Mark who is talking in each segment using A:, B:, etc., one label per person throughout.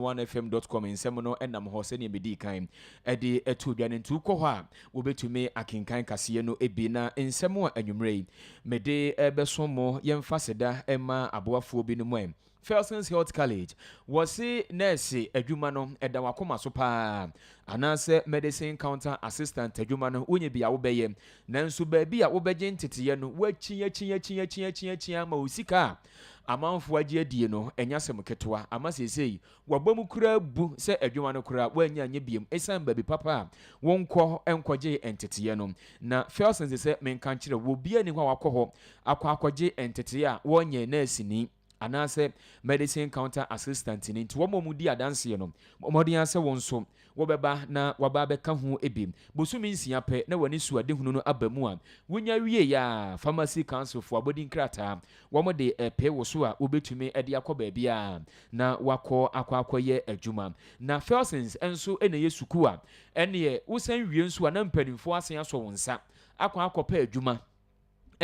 A: OneFM dot com nsɛm no nam hɔ sɛdeɛ medii kan de too dwa no. Nti wokɔ hɔ a, wobɛtumi akenkan kaseɛ no bi. Na nsɛm a anwummerɛ yi mede bɛso mo, yɛmfa seda mma aboafoɔ binom ɛ. Felsens Health College, wɔse nɛɛse adwuma no ɛda w'akoma so paa, anaasɛ Medicine Counter Assistant adwuma no wonyɛ bi a wobɛyɛ, nanso baabi a wobɛgye nteteeɛ no woakyiakyia kyiakyia kyiakyia ama wo sika a Amanfoɔ agye adie no, ɛnyɛ asɛm ketewa, ama seesei wɔabɔ mu koraa bu sɛ adwuma no koraa wɔannya anyɛ biom ɛsiane baabi papa a wonkɔ nkɔgyee nteteeɛ no. Na Felsen se sɛ menka nkyerɛ wo, obiara nni hɔ a wakɔ hɔ akɔ akɔgye nteteeɛ a wɔnyɛɛ nɛɛseni anaasɛ medicine counter assistant no, enti wɔn a wɔdi adanseɛ no, bɔ mmɔden ara sɛ wo nso Wobɛba na waba abɛka ho bi bosome nsia pɛ na w'anisoadehunu no aba mu a, wonya wie a, Pharmacy Council foɔ abɔdin krataa wɔn de repee wo so a wobɛtumi de akɔ baabiara na wakɔ akɔ akɔyɛ adwuma. Na Felsens nso na ɛyɛ sukuu a ɛneɛ wosan wie nso a na mpaninfoɔ asan asɔ wo nsa akɔ akɔpɛ adwuma.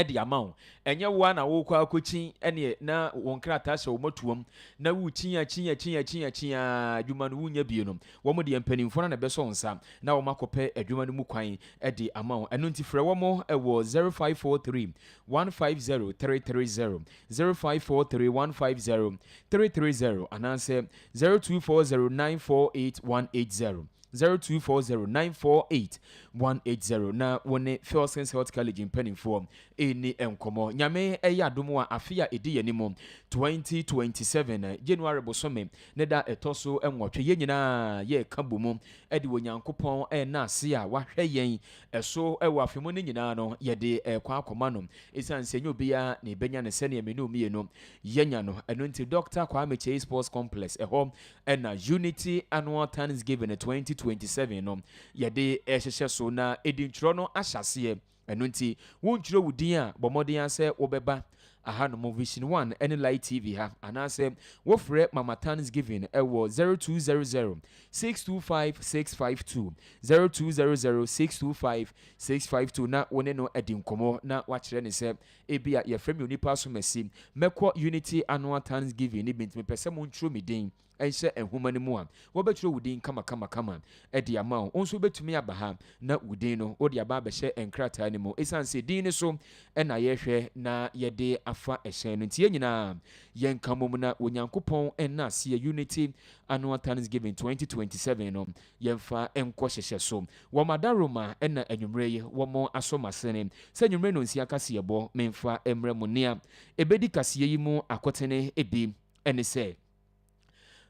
A: de ama wo. Ɛnyɛ wo ara na worekɔ akɔkyin ɛneɛ na wo nkrataa sɛ wɔatuam na worekyin akyin akyin akyin akyin ara adwuma no wonnya bie no. Wɔn deɛ mpanimfoɔ no na ɛbɛsɔ wo nsa na wɔakɔpɛ adwuma no mu kwan de ama wo. Ɛno nti frɛ wɔn wɔ 0543 150 330, 0543 150 330 anaasɛ 0240948180. Zero two four zero nine four eight one eight zero na wo ne Fielsens Health College mpanimfoɔ ɛni nkɔmɔ. Nyame ɛyɛ adom a afe a ɛdi yɛn anim twenty twenty seven January bosome ne da ɛtɔ so nwɔtwe yɛn nyinaa yɛka bɔ mu de Onyankopɔn ɛna ase a wahwɛ yɛn ɛso ɛwɔ afe mu no nyinaa no yɛde ɛkɔ akɔma no ɛsiane sɛ ɛnyɛ obiara na ɛbɛnya no sɛdeɛ me ne wo mmienu yɛnya no ɛno nti Doctor Kwame Kyei Sports Complex ɛhɔ Ɛna Unity Annual Thanksgiving twenty twenty seven no yɛde rehyehyɛ so na edintwerɛ no ahyɛ aseɛ. Ɛno nti wontwerɛ wo din a, bɔ mmɔden ara sɛ wobɛba ahanom, Vision One ne Light TV ha, anaasɛ wofrɛ Mama Thanksgiving wɔ zero two zero zero, six two five, six five two, zero two zero zero, six two five, six five two na wo ne no adi nkɔmmɔ na woakyerɛ no sɛ Ebia yɛfrɛ me onipa asomasi. Mɛkɔ Unity Annual Thanksgiving no bi, nti mepɛ sɛ montwerɛ me din nhyɛ nwoma no mu a. Wɔbɛtwerɛ wo din kamakamakama de ama wo. Wo nso wobɛtumi aba ha na wo din no, wode aba abɛhyɛ nkrataa no mu. Ɛsiane sɛ din no so na yɛhwɛ na yɛde afa hyɛn no nti, yɛn nyinaa yɛnka mmom na Onyankopɔn nna aseɛ Unity Annual Thanksgiving 2027 no Yɛmfa nkɔ hyehyɛ so. Wɔ m'adaroma na anwummere yi wɔn asɔ m'asene sɛ anwummere nnɔnsia kaseɛbɔ memfa mmrɛ mo. Nea ɛbɛdi kaseɛ yi mu akotene bi ne sɛ,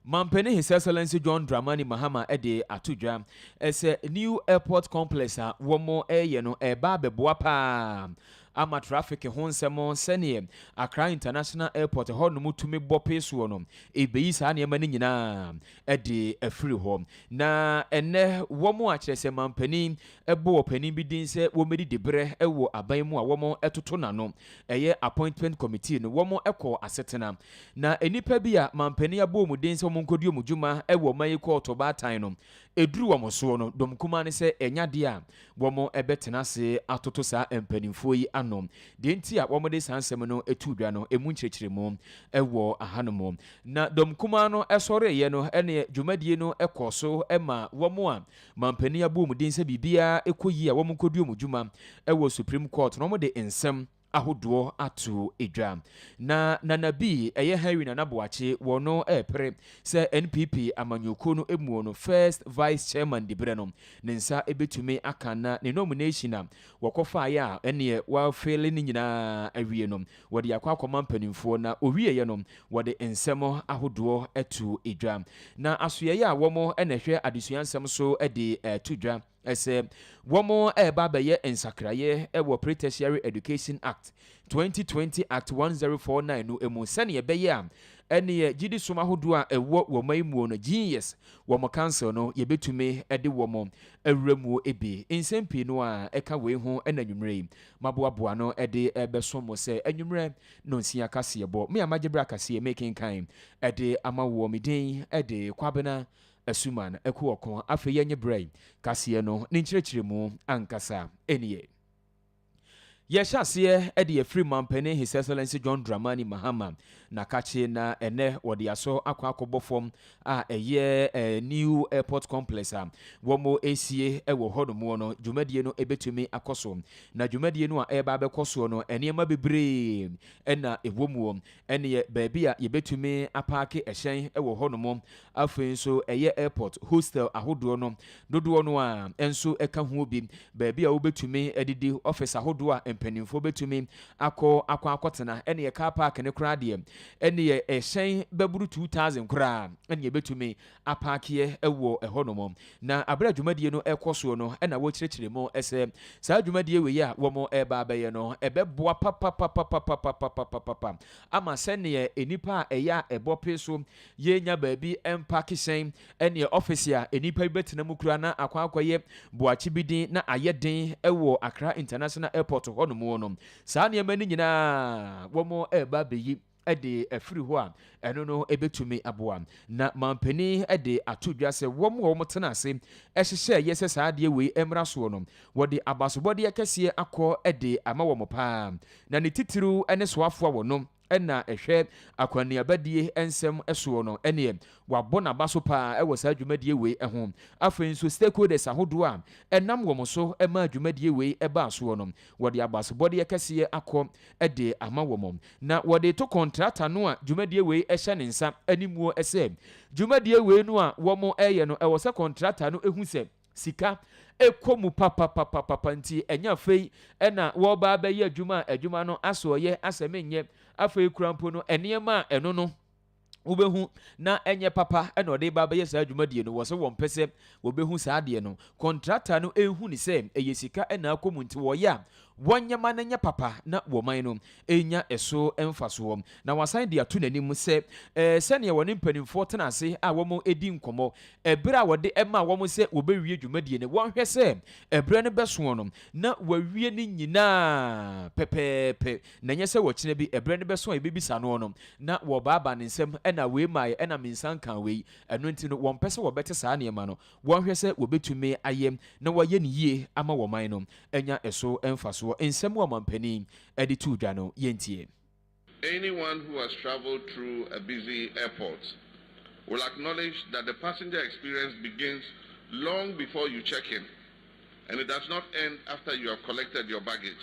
A: Mampanin His Excellency John Dramani Mahama de ato dwa sɛ New Airport Complex a wɔreyɛ no reba abɛboa pa ara ama traffic ho nsɛm sɛdeɛ Accra International Airport hɔnom tumi bɔ pee soɔ no, ɛbɛyi saa nneɛma no nyinaa de afiri hɔ. Na ɛnnɛ wɔn a kyerɛ sɛ manpanin bɔ ɔpanin bi din sɛ wɔmmɛdi diberɛ wɔ aban mu a wɔtoto n'ano, ɛyɛ Appointment Committee no, wɔn kɔɔ Asetena. Na nnipa bi a manpanin abɔ wɔn din sɛ wɔn nkɔdi wɔn dwuma wɔ ɔman yi kɔɔto baatan no, ɛduru wɔn soɔ no, dɔm kumaa no sɛ ɛnyɛ adeɛ a Wɔbɛtena ase atoto saa mpanimfoɔ yi ano. Deɛ nti a wɔde saa nsɛm no too dwa no, ɛmu nkyerɛkyerɛmu wɔ hanom. Na dɔm kumaa no sɔreeɛ no ne dwumadie no kɔɔ so ma wɔn a manpanin abɔ wɔn din sɛ biribiara kɔ yie a wɔnkɔdie wɔn dwuma wɔ Supreme Court no, wɔde nsɛm, ahodoɔ ato dwa. Na Nana bi, ɛyɛ Henry Nana Boakye, wɔ no repere sɛ NPP amanyɔkuo no muo no first vice chairman diberɛ no, ne nsa bɛtumi aka na ne nomination a wɔkɔfaeɛ a ɛnneɛ wɔafeele no nyinaa awie no, wɔde akɔ akɔma mpanimfoɔ na ɔwieeɛ no, wɔde nsɛm ahodoɔ to dwa. Na asoɛeɛ a wɔn na ɛhwɛ adesua nsɛm so de to dwa, sɛ wɔreba abɛyɛ nsakraeɛ wɔ Pre-Tertiary Education Act, 2020 Act 1049 no mu sɛdeɛ ɛbɛyɛ a ɛneɛ gyedisom ahodoɔ a ɛwɔ wɔ ɔman yi muo no, GES, wɔn council no yɛbɛtumi de wɔn awura muo bi. Nsɛm pii no ara ɛka wei ho na anwummerɛ yi maboaboa ano de rebɛso mo sɛ anwummerɛ nonsia kaseɛbɔ. Me a magye berɛ akaseɛ mekenkan de ama woɔ, me din de Kwabena Asuman, Ɛko ɔko, afei yɛnnye berɛ yi kaseɛ no ne nkyerɛkyerɛmu ankasa nnie. Yɛhyɛ aseɛ de afiri Mampanin His Excellency John Dramani Mahama na kakye na ɛnɛ wɔde asɔ akɔ akɔbɔ fam a ɛyɛ eh, New Airport Complex a wɔn esie wɔ hɔ nom no dwumadie no ebetumi akɔ so na dwumadie no a ɛreba abɛkɔ soɔ no nneɛma bebree na ɛwɔ mu Ɛnneɛ baabi a yɛbɛtumi apaake hyɛn wɔ hɔnom, afei nso ɛyɛ airport, hostel ahodoɔ no dodoɔ no ara nso ka ho bi, baabi a wobɛtumi adidi, office ahodoɔ a mpanimfoɔ bɛtumi akɔ akɔ akɔtena, ɛnneɛ car park no koraa deɛ, ɛnneɛ ɛhyɛn bɛboro two thousand koraa na yɛbɛtumi apaakeɛ wɔ ɛhɔnom, na berɛ a dwumadie no rekɔ soɔ no na wɔrekyerɛkyerɛ mu sɛ saa dwumadie wei a wɔreba abɛyɛ no ɛbɛboa papapapapapapapapapa ama sɛdeɛ nnipa a ɛyɛ a ɛbɔ pee so yɛrenya baabi mpaake hyɛn ne ɔfese a nnipa bi bɛtena mu koraa na akɔ akɔyɛ boakye bi den na ayɛ den wɔ Accra International Airport hɔnom no. Saa nneɛma no nyinaa wɔreba abɛyi. de afiri hɔ a, ɛno no bɛtumi aboa. Na manpanin de ato dwa sɛ wɔn a wɔtenaa ase hyehyɛeɛ sɛ saa adeɛ wei mmra soɔ no, wɔde abasobɔdeɛ kɛseɛ akɔ de ama wɔn pa ara. Na ne titiriw ne soafoɔ a ɔno na ɛhwɛ akwannuabadie nsɛm soɔ no neɛ wabɔ n'abaso pa ara wɔ saa dwumadie wei ho. Afei nso stakeholders ahodoɔ a ɛnam wɔn so maa dwumadie wei baa soɔ no, Wɔde abasobɔdeɛ kɛseɛ akɔ de ama wɔn, na wɔde to kɔntrata no a dwumadie wei hyɛ ne nsa animuo sɛ dwumadie wei no a wɔreyɛ no, ɛwɔ sɛ kɔntrata no hu sɛ sika kɔ mu papapapapa nti ɛnyɛ afei na wɔreba abɛyɛ adwuma a adwuma no asoɔyɛ asɛ menyɛ afei koraa mpo no nneɛma a ɛno no wobɛhu na ɛnyɛ papa na ɔde ba bɛyɛ saa dwumadie no, wɔ sɛ wɔmpɛ sɛ wɔbɛhu saa adeɛ no. Kɔntrata no nhu ne sɛ ɛyɛ sika na akɔ mu nti wɔyɛ a wɔnyɛ ma no nyɛ papa na wɔman no nya ɛso mfasoɔ. Na wasan de ato n'anim sɛ ɛɛ sɛdeɛ wɔne mpanimfoɔ tena ase a wɔdi nkɔmmɔ ɛberɛ a wɔde ɛmaa wɔn sɛ wɔbɛwie dwumadie no, wɔnhwɛ sɛ ɛberɛ no bɛsoɔ no na wɔawie ne nyinaa pɛpɛɛpɛ. Na ɛnyɛ sɛ ɔkyena bi, ɛberɛ no bɛso a yɛbɛbisa noɔ no, na wɔbaabaa ne nsam, ɛna wei maaeɛ, ɛna me nsa nkaa wei. Ɛno nti no, wɔmpɛ sɛ wɔbɛte saa nneɛma no, wɔnhwɛ sɛ wɔbɛtumi ayɛ na wɔayɛ no yie ama wɔn man no anya ɛso mfasoɔ. Nsɛm a ɔmampanin de too dwa no, yɛntie.
B: Anyone who has travelled through a busy airport will acknowledge that the passenger experience begins long before you check in and it does not end after you have collected your baggage.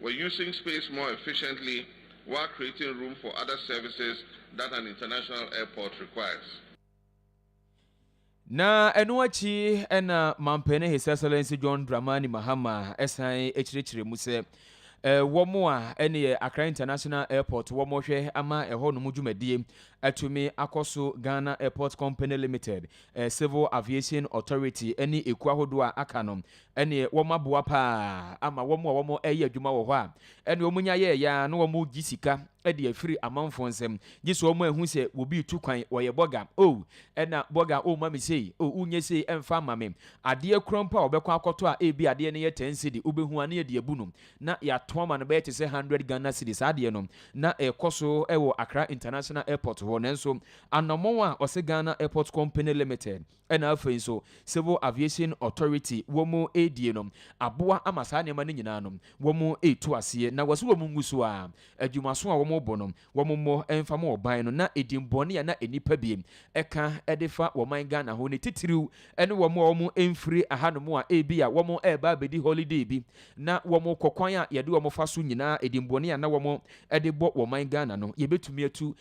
B: We're using space more efficiently while creating room for other services that an international airport requires.
A: Na ɛno akyi na Mampanin His Excellency John Dramani Mahama san kyerɛkyerɛ mu sɛ wɔn a ɛne Accra International Airport wɔn hwɛ ama ɛhɔnom dwumadie atumi akɔ so Ghana Airport Company Limited, Civil Aviation Authority ne ekuo ahodoɔ a aka no Ɛneɛ wɔn aboa paa ama wɔn a wɔn ɛyɛ adwuma wɔ hɔ a ɛneɛ wɔn nya yɛɛ yɛ a na wɔn gye sika de afiri amanfoɔ nsam gye sɛ wɔn ahu sɛ obi retu kwan ɔyɛ bɔga oh ɛna bɔga oh ma me sei oh wo nyɛ sei ɛmfa mma me adeɛ kura mpo a ɔbɛkɔ akɔtɔ a ebi adeɛ no yɛ 10 cedi wobɛhu a na yɛde abu no na yɛato ama no bɛyɛ te sɛ 100 Ghana cedi saa adeɛ no na ɛkɔ so wɔ Accra International Airport hɔ nanso anɔmɔn a ɔse Ghana Airport Company Limited Ɛna afei nso Civil Aviation Authority wɔn ɛredie no aboa ama saa nneɛma no nyinaa no wɔn ɛretu aseɛ na wɔse wɔn ngu so ara adwumaso a wɔn rebɔ no wɔn mmɔ mfa ma ɔban no na ɛdinbɔne a na nnipa bi ɛka ɛde fa ɔman Ghana ho no titiriw ɛne wɔn a wɔn ɛmfiri ahanom a ɛbi a wɔn ɛreba abɛdi holiday bi na wɔn rekɔ kwan a yɛde wɔn fa so nyinaa ɛdinbɔne a na wɔn ɛde bɔ ɔman Ghana no yɛbɛtumi atu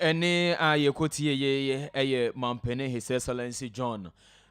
A: Ɛnne a yɛkɔtiee yi yɛ Mampanin His Excellency John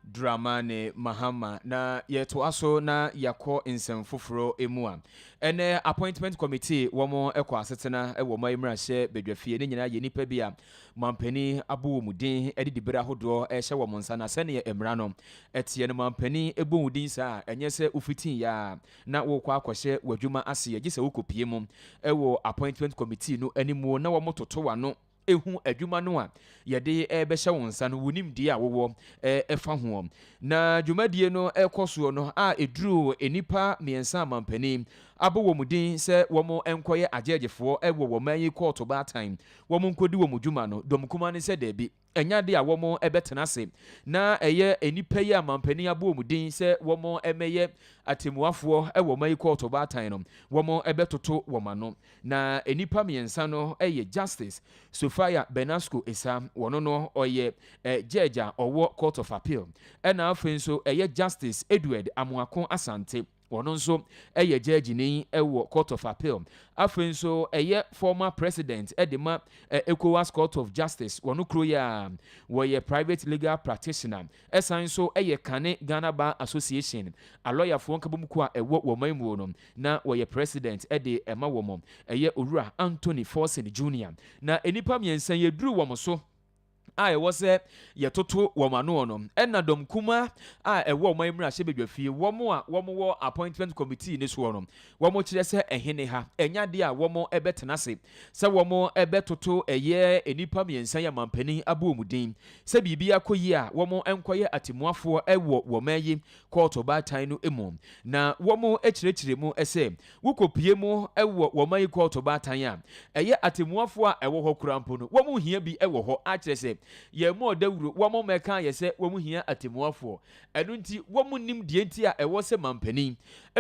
A: Dramani Mahama. Na yɛtoa so na yɛakɔ nsɛm foforɔ mu a, ɛnnɛ Appointment Committee wɔn kɔ asetena wɔ ɔman mmarahyɛ badwafie. Ne nyinaa yɛ nnipa bi a Mampanin abɔ wɔn din de dibere ahodoɔ rehyɛ wɔn nsa. Na sɛdeɛ mmara no teɛ no, Mampanin bɔ wo din saa a, ɛnyɛ sɛ wofitii yɛ ara. na worekɔ akɔhyɛ w'adwuma ase a, gye sɛ wokɔpue mu wɔ appointment committee no anim na wɔtoto w'ano hu adwuma no a yɛde rebɛhyɛ wo nsa no, wo nimdeɛ a wowɔ fa ho. Na dwumadie no rekɔ soɔ no a ɛduru nnipa mmiɛnsa a mampanin abɔ wɔn din sɛ wɔnkɔyɛ agyɛɛgyefoɔ wɔ wɔn man yi kɔɔto baatan, wɔnkɔdi wɔn dwuma no, dɔm kumaa no sɛ daabi. Ɛnyɛ ade a wɔbɛtena ase na ɛyɛ nnipa yi a mampanin abɔ wɔn din sɛ wɔmmɛyɛ atɛmmuafoɔ wɔ ɔman yi kɔɔto ɔbaatan no, wɔbɛtoto wɔn ano. Na nnipa mmiɛnsa no yɛ Justice Sophia Benasco Esah, ɔno no ɔyɛ Judge a ɔwɔ Court of Appeal, ɛna afei nso ɛyɛ Justice Edward Amoako Asante, Ɔno nso yɛ gyɛɛgyeni wɔ Court of Appeal. Afei nso ɛyɛ former president de ma Ecowas Court of Justice wɔ no kuro yi ara. Ɔyɛ private legal practitioner. Ɛsan nso yɛ kane Ghana Bar Association, alɔyafoɔ nkabom kuo a ɛwɔ wɔ ɔman muo no, na ɔyɛ president de ma wɔn. Ɛyɛ Owura Anthony Forson Junior. Na nnipa mmiɛnsa yi aduru wɔn so. a ɛwɔ sɛ yɛtoto wɔn ano no na dɔm kumaa a ɛwɔ ɔman mmarahyɛbadwafie, wɔn a wɔwɔ appointment committee no soɔ no, wɔkyerɛ sɛ ɛhene ha, ɛnyɛ adeɛ a wɔbɛtena ase sɛ wɔbɛtoto ɛyɛ nnipa mmiɛnsa yi amanpanin abɔ wɔn din sɛ biribi akɔ yie a wɔnkɔyɛ atemmuafoɔ wɔ wɔn ayi kɔɔto baatan no mu na wɔkyerɛkyerɛ mu sɛ Wokopue mu wɔ wɔn mayi kɔɔto baatan a ɛyɛ atemmuafoɔ a ɛwɔ hɔ koraa mpo no, wɔn hia bi wɔ hɔ ara kyerɛ sɛ yɛn mmɔɔ dawuro, wɔn mmɛkaa yɛ sɛ wɔn hia atemmuafoɔ. Ɛno nti wɔn nnim deɛ nti a ɛwɔ sɛ manpanin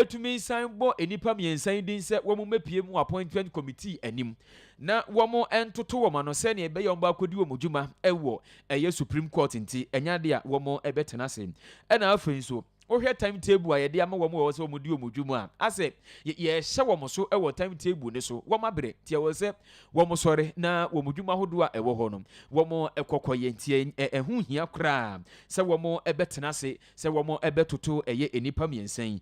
A: tumi san bɔ nnipa mmiɛnsa yi din sɛ wɔn mmɛpue mu wɔ appointment committee anim na wɔn ntoto wɔn ano sɛdeɛ ɛbɛyɛ a wɔn bɛakɔdi wɔn dwuma wɔ ɛyɛ Supreme Court nti ɛnyɛ adeɛ a wɔn bɛtena ase na afei nso Wohwɛ time table a yɛde ama wɔn a ɛwɔ sɛ wɔdi wɔn dwom a, asɛ yɛrehyɛ wɔn so wɔ time table no so. Wɔn abrɛ nti ɛwɔ sɛ wɔn sɔre na wɔn dwuma ahodoɔ a ɛwɔ hɔ no wɔn kɔkɔ yɛ nti ɛho hia koraa sɛ wɔn bɛtena ase sɛ wɔn bɛtoto ɛyɛ nnipa mmiɛnsa yi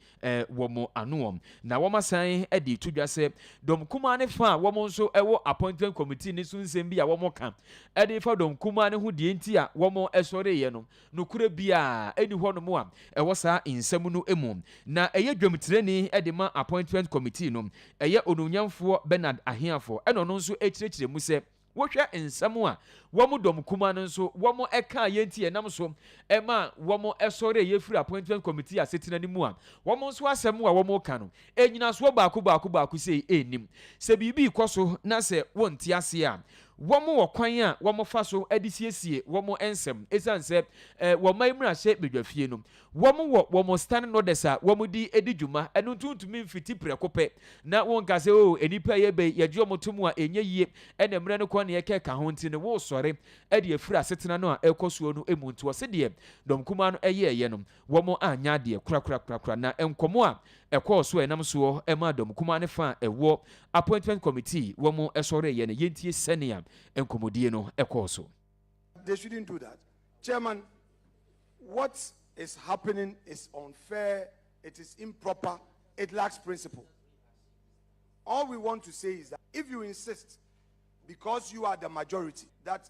A: wɔn anoɔ na wɔn asan de to dwa sɛ dɔm kumaa ne fa a wɔn nso ɛwɔ appointment committee ne so nsɛm bi a wɔn ka ɛde fa dɔm kumaa ne ho deɛ nti a wɔn ɛsɔreeɛ no Nokorɛ biara nni hɔnom a ɛwɔ saa nsɛm no mu. Na ɛyɛ dwamtirani de ma Appointment Committee no, ɛyɛ Onuonyamfoɔ Bernard Ahiafoɔ ɛna ɔno nso kyerɛkyerɛ mu sɛ, Wohwɛ nsɛm a wɔn dɔm kumaa no nso wɔn kaeɛ nti ɛnam so ma wɔn sɔreeɛ firii Appointment Committee asetena no mu a, wɔn nso asɛm a wɔka no Nnyinasoɔ baako baako baako sei nnim. Sɛ biribi rekɔ so na sɛ wɔnte aseɛ a, wɔwɔ kwan a wɔfa so de siesie wɔn nsɛm. Ɛsiane sɛ wɔ ɔman mmarahyɛ badwafie no, wɔwɔ wɔn standing orders a wɔde di dwuma, ɛno nti wontumi mfiti prɛko pɛ na wonka sɛ oo nnipa a yɛreba yi yɛgye wɔn tom a ɛnyɛ yie na mmerɛ no kɔ na yɛkɛka ho nti no woresɔre de afiri asetena no a ɛrekɔ soɔ no mu nti ɔse deɛ Dɔm Kumaa no yɛeɛ no Wɔanyɛ adeɛ korakorakorakora, na nkɔmmɔ a ɛkɔɔ so a ɛnam soɔ maa dɔm kumaa no fa a ɛwɔ Appointment Committee wɔn sɔreeɛ no. Yɛntie sɛnea nkɔmmɔdie no kɔɔ so. They shouldn't do
C: that chairman what is happening is unfair it is improper it lacks principle all we want to say is that if you insist because you are the majority that.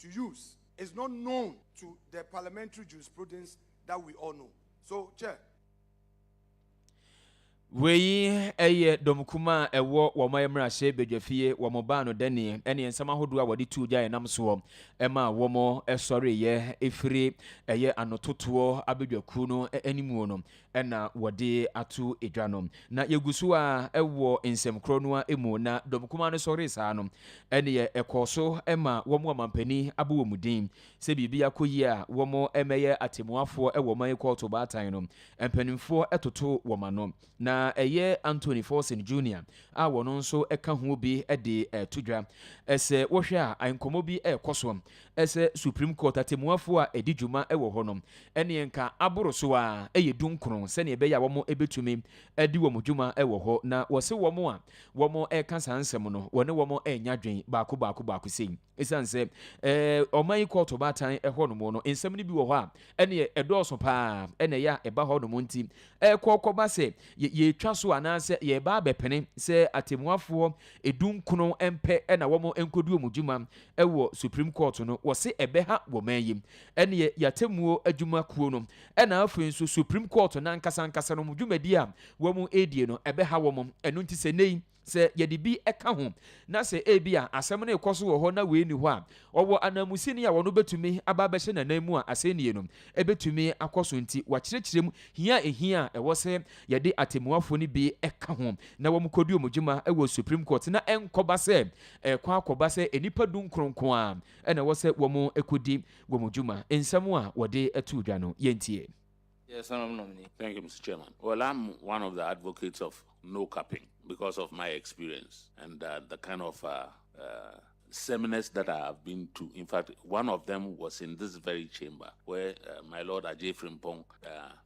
C: to use is not known to the parliamentary jurisprudence that we all know. So, Chair.
A: Wei yɛ dɔmkumaa a ɛwɔ wɔn mmarahyɛ badwafie, wɔn baa no dɛneɛ ne nsɛm ahodoɔ a wɔde tuu gya ɛnam soɔ ma wɔn sɔreeɛ ɛfiri ɛyɛ anototoɔ abadwakuo no animuo no. na wɔde ato dwa no. Na yɛgu so ara wɔ nsɛm korɔ no ara mu, na dɔm kumaa no sɔree saa no, ɛnneɛ ɛkɔɔ so ma wɔn ɔmampanin abɔ wɔn din sɛ biribi akɔ yie a, wɔmmɛyɛ atɛmmuafoɔ wɔ ɔman kɔɔto baatan no. Mpanimfoɔ totoo wɔn ano, na ɛyɛ Anthony Forson Junior a ɔno nso ka ho bi de reto dwa. Sɛ wohwɛ a, nkɔmmɔ bi rekɔ so Sɛ Supreme Court atɛmmuafoɔ a ɛdi dwuma wɔ hɔ no, ɛneɛ nka aboro so ara yɛ dunkron sɛdeɛ ɛbɛyɛ a wɔn bɛtumi adi wɔn dwuma wɔ hɔ. Na wɔse wɔn a wɔn reka saa nsɛm no, wɔne wɔn renya adwene baako baako baako sei. Ɛsiane sɛ ɔman yi kɔɔto baatan hɔ nom no, nsɛm no bi wɔ hɔ a ɛneɛ ɛdɔɔso pa ara na ɛyɛ a ɛba hɔ nom nti, ɛkɔ kɔba sɛ yɛtwa so anaasɛ yɛreba abɛpene sɛ atɛmmuafoɔ dunkron mpɛ na wɔn nkɔdi wɔn dwuma Ɛwɔ supreme court no wɔse ɛbɛha wɔ man yi ɛneɛ y'atemuo adwuma kuo no ɛna afei nso supreme court nankasa ankasa no wɔn dwumadi a wɔn ɛredie no ɛbɛha wɔn ɛno nti sɛ nnɛ yi sɛ yɛde bi ɛka ho na sɛ ebi a asɛm no rekɔ so wɔ hɔ na wei nni hɔ a ɔwɔ ananmusini a ɔno bɛtumi aba abɛhyɛ n'anan mu a asɛnnie no ɛbɛtumi akɔ so nti wakyerɛkyerɛ mu hia a ɛhia a ɛwɔ sɛ yɛde atemuafoɔ no bi ɛka ho na wɔn kɔdi wɔn dwuma ɛwɔ supreme court na ɛnkɔba sɛ Ɛrekɔ akɔba sɛ nnipa dunkron nko ara na ɛwɔ sɛ wɔkɔdi wɔn dwuma. Nsɛm a wɔde too dwa no, yɛntie. Yes, Honourable
D: Nominee. Thank you, Mr Chairman. Well, I'm one of the advocates of no capping because of my experience and the kind of seminars that I have been to. In fact, one of them was in this very chamber where my Lord Adjei Frimpong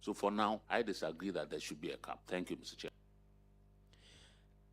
D: So for now I disagree that there should be a cap. Thank you Mister Chair.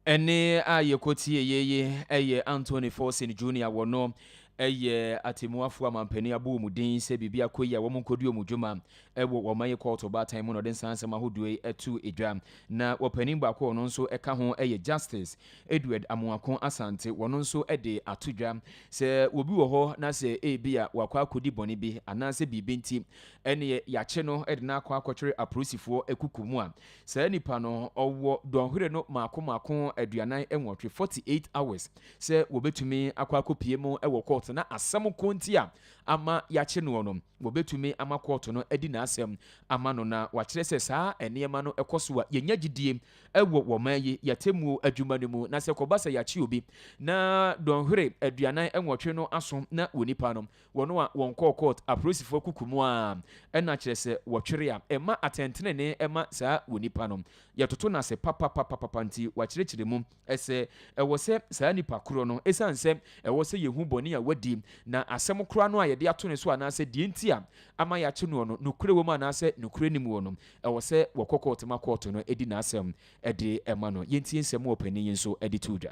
D: Ɛnne
A: a yɛkɔtieeɛ yi yɛ Anthony Forson Junior wɔno yɛ atemmuafoɔ amampanin abɔ wɔn din sɛ biribi akɔ yi a wɔn nkɔdi wɔn dwuma wɔ wɔn ayɛ kɔɔto baatan mu na ɔde nsansɛm ahodoɔ yi ato edwa na ɔpanin baako ɔno nso ɛka ho yɛ Justice Edward Amoako Asante wɔno nso de ato dwa sɛ obi wɔ hɔ na sɛ ebi a wakɔ akɔdi bɔne bi anaasɛ biribi nti Ɛneɛ yakye no de no akɔ akɔtwere apolisifoɔ kuku mu a saa nipa no ɔwɔ dɔnhwere no maako maako aduanan nwɔtwe, forty eight hours, sɛ wɔbɛtumi akɔ akɔpie mu wɔ kɔɔto na asɛm ko nti a ama yakye noɔ no wɔbɛtumi ama kɔɔto no adi n'asɛm ama no na wakyerɛ sɛ saa nneɛma no kɔ so a yɛnya gyidie wɔ wɔ ɔman yi yɛatemmuo adwuma no mu na sɛ kɔba sɛ yakye obi na dɔnhwere aduanan nwɔtwe no aso na onipa no Wɔn a wɔnkɔɔ kɔɔt, apolisifo akuku mu ara, ɛna kyerɛ sɛ wɔtwere a, ɛmma atɛntrenee mma saa onipa no. Yɛtoto no ase papapapapa nti, wɔakyerɛkyerɛ mu sɛ ɛwɔ sɛ saa nipa koro no, esiane sɛ ɛwɔ sɛ yehu bɔne a wadi, na asɛm koro ano a yɛde ato ne so anaasɛ deɛ nti a ama yɛakye noɔ no, nokorɛ wɔ mu anaasɛ nokorɛ nni mu wɔ no, ɛwɔ sɛ wɔkɔ kɔɔt ma kɔɔt no di n'asɛm de ma no. Yɛntie nsɛm a ɔpanin yi nso de too dwa.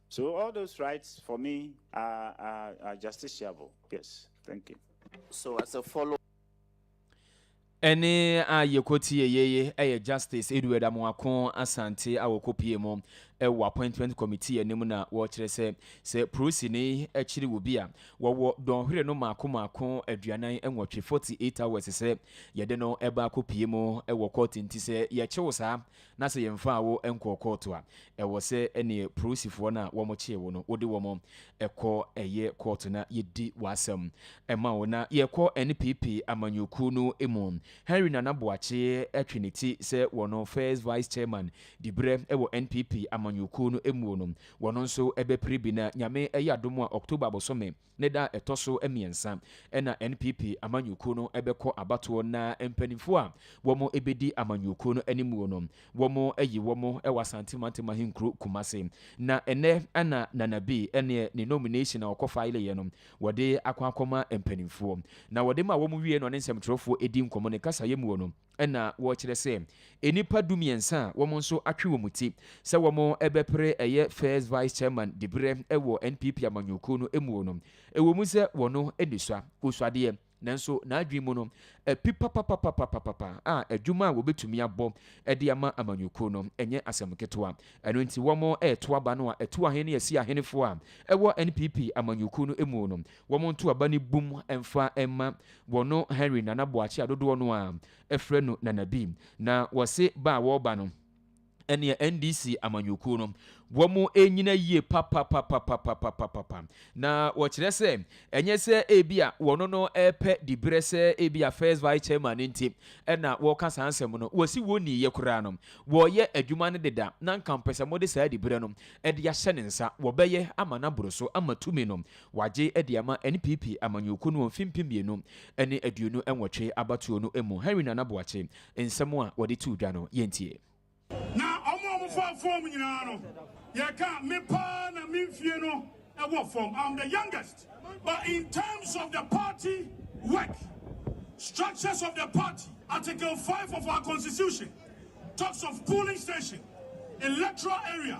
E: So all those rights for me are, are, are justiciable. Yes. Thank you. So as a
F: follow. ɛne
A: a yɛkɔtie yeye ɛyɛ justice edward amoako asante a wɔkɔpie mu ɛwɔ appointment committee anim na wɔkyerɛ sɛ sɛ prosini akyiri wɔ bi a wɔwɔ dɔnhwere no maako maako aduanan nwɔtwe 48 hours sɛ yɛde no ɛba akɔpie mu ɛwɔ court nti sɛ yɛkyew saa Na sɛ yɛmfaa wo nkɔɔ kɔɔto a, ɛwɔ sɛ ɛne polisifoɔ no a wɔkyee wo no, wode wɔn kɔ ɛyɛ kɔɔto na yɛdi w'asɛm ma wo. Na yɛkɔ NPP amanyɔkuo no mu. Henry Nana Boakye twe ne ti sɛ wɔno First Vice Chairman diberɛ wɔ NPP amanyɔkuo no muo no, wɔno nso bɛpere bi na Nyame yɛ adom a October bosome Ne da a ɛtɔ so mmiɛnsa na NPP amanyɔkuo no bɛkɔ abatoɔ na mpaninfoɔ a wɔn bɛdi amanyɔkuo no animuo no wɔn ayi wɔn wɔ Asante mantam ahenkuro Kumase. Na ɛnnɛ na Nana B ne ne nomination a ɔkɔ fileeɛ no wɔde akɔ akɔma mpaninfoɔ. Na wɔde ma wɔn wie no ɔne nsɛmtwerɛfoɔ di nkɔmmɔ ne kasaeɛ muo no, na wɔrekyerɛ sɛ nnipa dumiɛnsa a wɔn nso atwe wɔn ti sɛ wɔbɛpere ɛyɛ First Vice Chairman diberɛ wɔ NPP amanyɔkuo no muo no, ɛwɔ mu sɛ wɔno nnisua, osuadeɛ, nanso n'adwene mu no api papapapapapapa a adwuma a wɔbɛtumi abɔ de ama amanyɔkuo no nyɛ asɛm ketewa. Ɛno nti wɔreto aba no a ɛto ahene ne asi ahenefoɔ a ɛwɔ NPP amanyɔkuo no muo no, Wɔn nto aba no bum mfa mma wɔ no Henry Nana Boakye a dodoɔ no ara frɛ no Nana Bi. Na wɔse ba a wɔreba no ɛneɛ NDC amanyɔkuo no wɔn ɛnyina yie papapapapapapapa. Na wɔkyerɛ sɛ ɛnyɛ sɛ ɛbi a wɔn no ɛrepɛ diberɛ sɛ ɛbi a first vice chairman no nti ɛna wɔreka saa nsɛm no. Wɔse wɔnniiɛ koraa no wɔreyɛ adwuma no deda na nka mpɛsɛ mode saa diberɛ no ɛde ahyɛ ne nsa wɔbɛyɛ ama no aboro so ama tumi no Wɔagye de ama NPP amanyɔkuo no wɔ mfe mpem mmienu ne aduonu nwɔtwe abatoɔ no mu. Henry Nana Boakye nsɛm a wɔde too dwa no, yɛntie. Na
G: ɔmo a ɔmo faa fɔm nyinaa no yɛ ka me paa na me mfie no wɔ fɔm am the youngest but in terms of the party work structures of the party article five of our constitution talks of polling station electoral area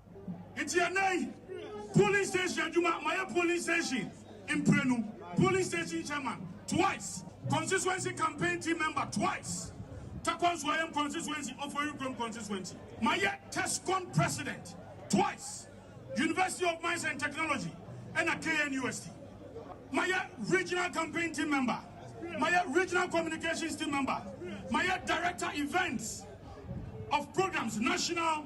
G: Nti ɛnnɛ yi, polling station adwuma, mayɛ polling station mprenu, polling station chairman twice, constituency campaign team member twice, Takwa Nsuayam constituency, Ofori Kurom constituency, mayɛ TESCON president twice, University of Mines and Technology ɛna KNUST, mayɛ regional campaign team member, mayɛ regional communications team member, mayɛ director events of programs national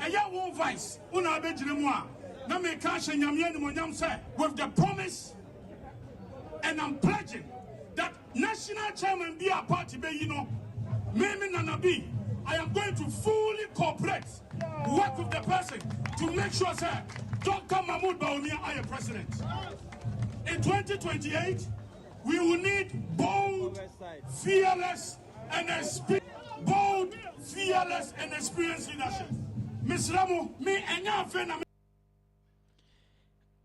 G: Ɛyɛ wo vice wo na abɛgyina mu a na meka ahyɛ Nyame animonyam sɛ with the promise and I'm pledging that national chairman bi a party bɛyi no me me nana bi I am going to fully cooperate work with the person to make sure sɛ Dr. Mahmoud Bawumia ayɛ president in 2028 we will need bold fearless and experience bold fearless
A: and experienced leadership mesrɛ mo me ɛnyɛ afei na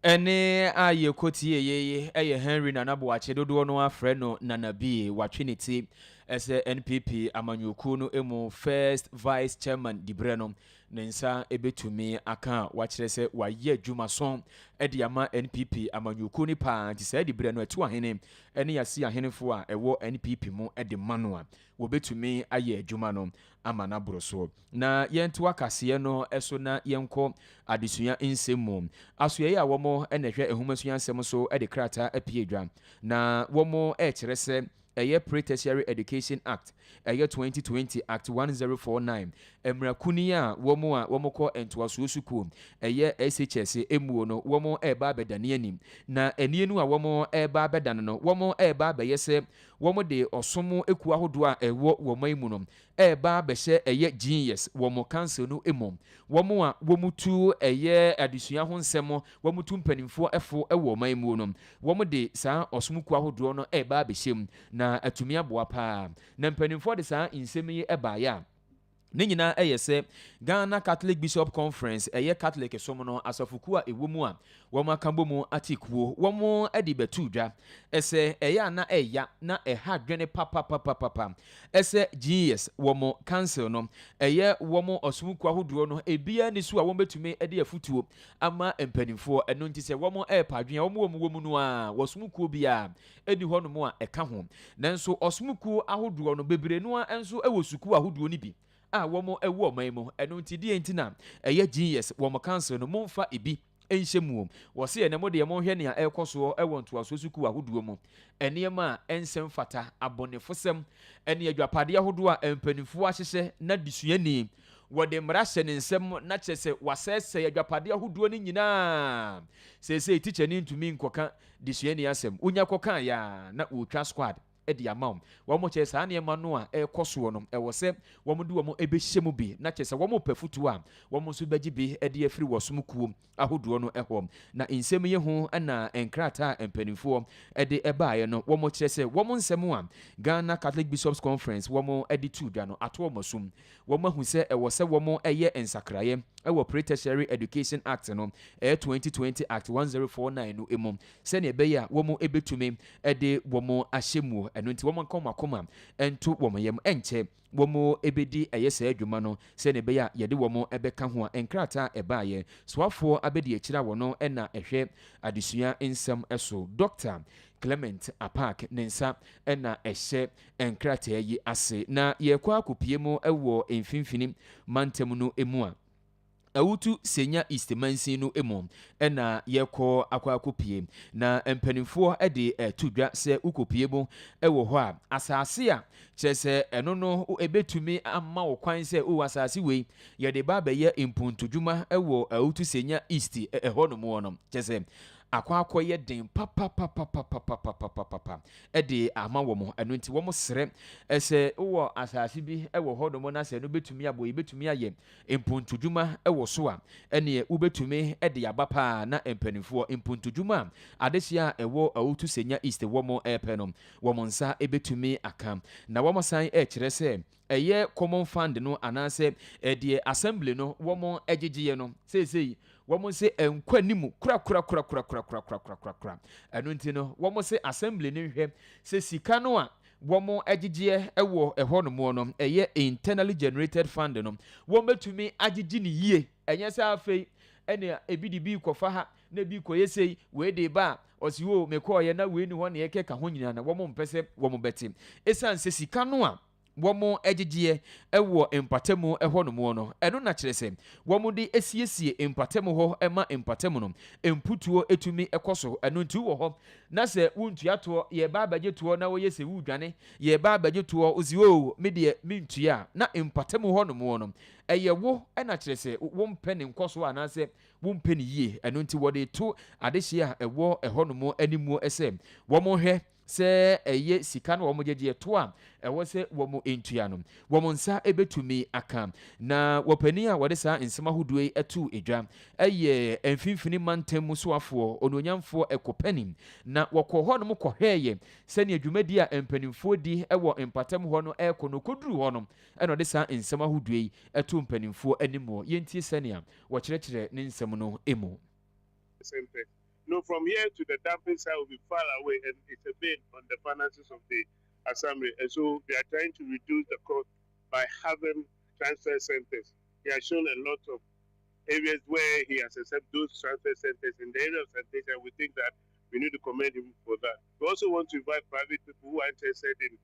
A: ɛne a yɛkɔ tie yeye ɛyɛ henry nana boakye dodoɔ no afrɛ no nana bie watwe ne ti ɛsɛ npp amanyɔkuo no mu first vice chairman diberɛ no ne nsa ɛbɛtumi aka a wakyerɛ sɛ wayɛ adwuma so ɛde ama npp amanyɔkuo no paa nti saa diberɛ no atu ahene ne yɛasi ahenefo a ɛwɔ NPP mu de ma no a, wɔbɛtumi ayɛ adwuma no ama no aboro so. Na yɛntoa kaseɛ no so na yɛnkɔ adesua nsɛm mu. Asoɛeɛ a wɔn na ɛhwɛ nhomasua nsɛm so de krataa apue dwa, na wɔrekyerɛ sɛ ɛyɛ Pre-Tertiary Education Act, ɛyɛ 2020 Act 1049, Mmra kuni a wɔn a wɔn kɔ ntoasoɔ sukuu ɛyɛ SHS mmuo no wɔn reba abɛda ne ani. Na ɛnie no a wɔn reba abɛda no no wɔn reba abɛyɛ sɛ wɔn de ɔsom kuo ahodoɔ a ɛwɔ wɔ ɔman mu no reba abɛhyɛ ɛyɛ GES wɔn council no mu. Wɔn a wɔn tu ɛyɛ adesua ho nsɛm wɔn tu mpaninfoɔ fo wɔ ɔman muo no wɔn de saa ɔsom kuo ahodoɔ no reba abɛhyɛ mu na atumi aboa paa. Na mpaninfoɔ de saa nsɛm yi baeɛ a. Ne nyinaa yɛ sɛ Ghana Catholic Bishop Conference, ɛyɛ Catholic som no asafokuo a ɛwɔ mu a wɔaka bɔ mu ate kuo, wɔn de bɛto dwa sɛ ɛyɛ a na ɛya na ɛha dwene papapapapa sɛ GES, wɔn Council no, ɛyɛ wɔn ɔsom kuo ahodoɔ no, ebiara nni so a wɔbɛtumi de afutuo ama mpanimfoɔ. Ɛno nti sɛ wɔn ɛɛpa adwene a wɔn wɔ mu wɔ mu no ara, ɔsom kuo biara di hɔnom a ɛka ho. Nanso ɔsom kuo ahodoɔ no, bebree no ara nso wɔ sukuu ahodoɔ no bi a wɔn wɔ ɔman mu. Ɛno nti deɛn nti na ɛyɛ genius wɔn council no monfa ɛbi nhyɛ muo? Wɔse ɛnɛ mo deɛ monhwɛ nea ɛrekɔ soɔ wɔ ntoasoɔ sukuu ahodoɔ mu, nneɛma a ɛnsɛ mfata, abɔnefosɛm, ne adwapadeɛ ahodoɔ a mpaninfoɔ ahyehyɛ na desuani wɔde mmara hyɛ ne nsam na kyerɛ sɛ wasɛesɛe adwapadeɛ ahodoɔ no nyinaa. Seesei tikyani ntumi nkɔka de suani asɛm wonya kɔkaeɛ a na wɔtwa squad de ama wo. Wɔn kyerɛ saa nneɛma no a ɛrekɔ soɔ no ɛwɔ sɛ wɔn de wɔn bɛhyɛ mu bi na kyerɛ sɛ wɔn repɛ afotuo a wɔn nso bɛgye bi de afiri wɔ som kuo ahodoɔ no hɔ. Na nsɛm yi ho na nkrataa a mpaninfoɔ de baeɛ no wɔkyerɛ sɛ wɔn nsɛm a Ghana Catholic Bishops Conference wɔn de too dwa no ato wɔn asom Wɔahu sɛ ɛwɔ sɛ wɔyɛ nsakraeɛ wɔ Pre-Tertiary Education Act no, ɛyɛ 2020 Act 1049 no mu sɛdeɛ ɛbɛyɛ a wɔbɛtumi de wɔn ahyɛ muo. Ɛno nti wɔnka wɔn akoma nto wɔn yam nkyɛ wɔbɛdi ɛyɛ saa adwuma no sɛdeɛ ɛbɛyɛ a yɛde wɔn bɛka ho a nkrataa a ɛbaeɛ soafoɔ abɛdi akyire a wɔno na ɛhwɛ adesua nsɛm so Dɔkta Clement Apaak ne nsa na ɛhyɛ nkrataa yi ase na yɛrekɔ akɔpue mu wɔ mfimfini mantam no mu a, Awutu Senya East mansin no mu na yɛrekɔ akɔ akɔpue. Na mpanimfoɔ de to dwa sɛ wokɔpue mu wɔ hɔ a, asase a kyerɛ sɛ ɛno no ɛbɛtumi ama wo kwan sɛ wowɔ asase wei yɛde ba abɛyɛ mpontodwuma wɔ Awutu Senya East ɛhɔ nom no kyerɛ sɛ akɔ akɔ yɛ den papapapapapapapapapa de ama wɔn. Ɛno nti wɔn srɛ sɛ wowɔ asaase bi wɔ hɔ nom na sɛ ɛno bɛtumi abɔ yɛ bɛtumi ayɛ mpontodwuma wɔ so a ɛneɛ wobɛtumi de aba paa na mpaninfoɔ mpontodwuma a adehyeɛ a ɛwɔ Awotu Senya East wɔn ɛɛpɛ no wɔn nsa bɛtumi aka na wɔn san ɛɛkyerɛ sɛ ɛyɛ common fund no anaasɛ deɛ assembly no wɔn gyegyeɛ no seesei wɔn se ɛnkɔ anim korakorakorakorakorakorakorakorakora ɛno nti no wɔn se assembly no nhwɛ sɛ sika no a wɔn gyegyeɛ wɔ ɛhɔ nom no ɛyɛ internally generated fund no wɔn bɛtumi agyegye ne yie Ɛnyɛ sɛ afei na ebi de bi rekɔfa ha na ebi rekɔyɛ sei, wei de reba a, ɔse oo mekɔeɛ na wei ne hɔ na ɛrekeka ho nyinaa na wɔmpɛ sɛ wɔbɛte. Ɛsiane sɛ sika no a wɔgyegyeɛ wɔ mpatamu hɔnom no, ɛno na kyerɛ sɛ wɔde siesie mpatamu hɔ ma mpatamu no mputuo tumi kɔ so. Ɛno nti wowɔ hɔ na sɛ wontua toɔ, yɛreba abɛgye toɔ na woyɛ sɛ woredwane, yɛreba abɛgye toɔ, wose oo medeɛ mentua a, na mpatamu hɔnom no Ɛyɛ wo na kyerɛ sɛ wompɛ ne nkɔsoɔ anaasɛ wompɛ no yie. Ɛno nti wɔde reto adehyeɛ a ɛwɔ ɛhɔnom anim sɛ wɔnhwɛ sɛ ɛyɛ sika no a wɔgye gyeɛ toɔ a ɛwɔ sɛ wɔntua no, wɔn nsa bɛtumi aka. Na ɔpanin a wɔde saa nsɛm ahodoɔ yi too dwa yɛ Mfimfini Mantam mu soafoɔ, Onuonyamfoɔ Ekopeni. Na wɔkɔɔ hɔnom kɔhwɛeɛ sɛdeɛ dwumadie a mpanimfoɔ di wɔ mpatam hɔ no rekɔ no, wɔkɔduruu hɔ no, Ɛna ɔde saa nsɛm ahodoɔ yi to mpanimfoɔ anim wɔ yɛntie sɛnea wɔkyerɛkyerɛ ne nsɛm no mu. Sɛmpɛ.
F: No from here to the dumping site will be far away and it's a bane on the finances of the Assamre and so they are trying to reduce the cost by having transfer centres. He has shown a lot of areas where he has accept those transfer centres in the area of sanitation we think that we need to commend him for that. We also want to invite private people who are interested in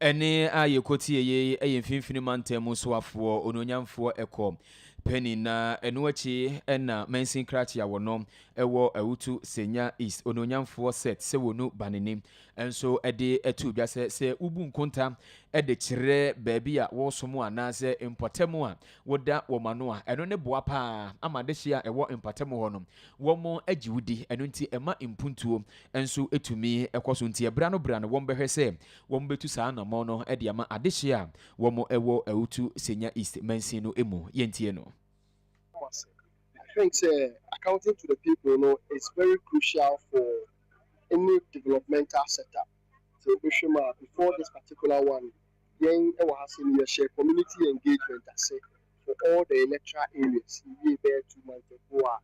A: Ɛnne a yɛkɔ tie yi yɛ mfimfini mantam mu soafoɔ onuonyamfoɔ ɛkɔ pɛni na ɛno akyi ɛna mansin krakye a wɔno ɛwɔ awutu senya east onuonyamfoɔ set sɛ wɔnu banini ɛnso ɛde ɛtu dwa sɛ sɛ wobu nkonta ɛde kyerɛ baabi a wɔsom anaasɛ mpɔtam a woda wɔn ano a ɛno ne boa paa ama adehye a ɛwɔ mpɔtam hɔ no wɔn agye wodi ɛno nti ɛma mpuntuo nso tumi kɔ so. Nti ɛbra no bra no wɔn bɛhwɛ sɛ wɔn bɛtu saa anamɔn no de ama adehyeɛ a wɔn wɔ Awutu Senya East mansin no mu. Yɛn ntie no. Mawase.
H: I think sɛ accounting to the people no is very crucial for any developmental sector. Sɛ wo bɛhwɛ mu a before this particular one yɛn wɔ ha sei no yɛ hyɛ community engagement ase for all the electoral areas yɛ wiee bɛyɛ two months ago a.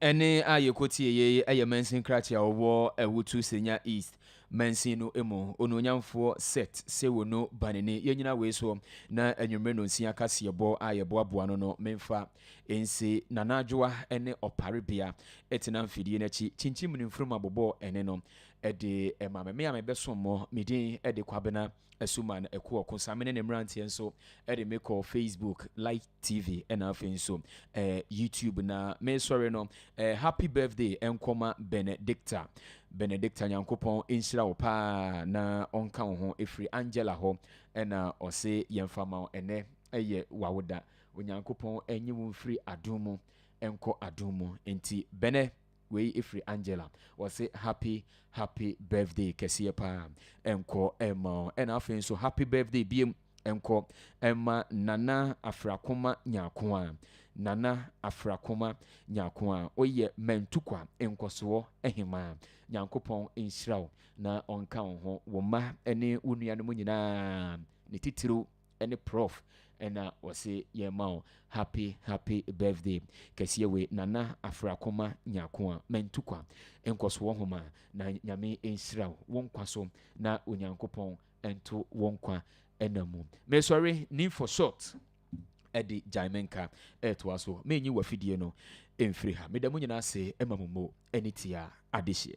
H: Ɛnne
A: a yɛkɔtieeɛ yi yɛ mansin krakyɛ a ɔwɔ Awutu Senya East mansin no mu. Onuonyamfoɔ Seth Sewunu Banini, yɛnyina wei soɔ na anwummere nonsia kaseɛbɔ a yɛboaboa no no memfa nsi Nana Adwoa ne Ɔpare Bea tena mfidie no akyi kyinkyim ne mfunumu abobɔ ɛnne no de ma me. Me a mebɛsom mo, me din de Kwabena Asuman Akuo Ɔkosa. Me ne ne mmeranteɛ nso de me kɔ Facebook like. TV ɛna afei nso ɛɛ YouTube na mesɔre no ɛɛ happy birthday ɛnkɔma Benedicta Benedicta Nyankopɔn nhyira wo paa na ɔnka wo ho efiri Angela hɔ ɛna ɔse yɛnfa ma ɛnɛ ɛyɛ wawoda Onyankopɔn ɛnye wo mfiri adum mu ɛnkɔ adum mu nti Bene Wei ɛfiri Angela ɔse happy happy birthday kɛseɛ paa nkɔ ɛma ɔ ɛna afei nso happy birthday biem nkɔ ɛma Nana Afrakoma Nyakwa Nana Afrakoma Nyakwa woyɛ Mantukwa nkɔsoɔ hemaa Nyankopɔn nhyira wo na ɔnka wo ho wo mma ne wo nuanom nyinaa ne titiriw ɛne prɔf ɛna wɔse yɛn ma wo happy happy birthday kɛseɛ wei nana afrakoma nyakoa mantukwa nkɔsoɔ homa na nyame nhyira wo nkwa so na onyankopɔn nto wo nkwa ɛna mu mesɔre need for short ɛde gyae me nka ɛtoa so menyi wafidie no mfiri ha meda mu nyinaa se ɛma mo mo ɛne tia adehyeɛ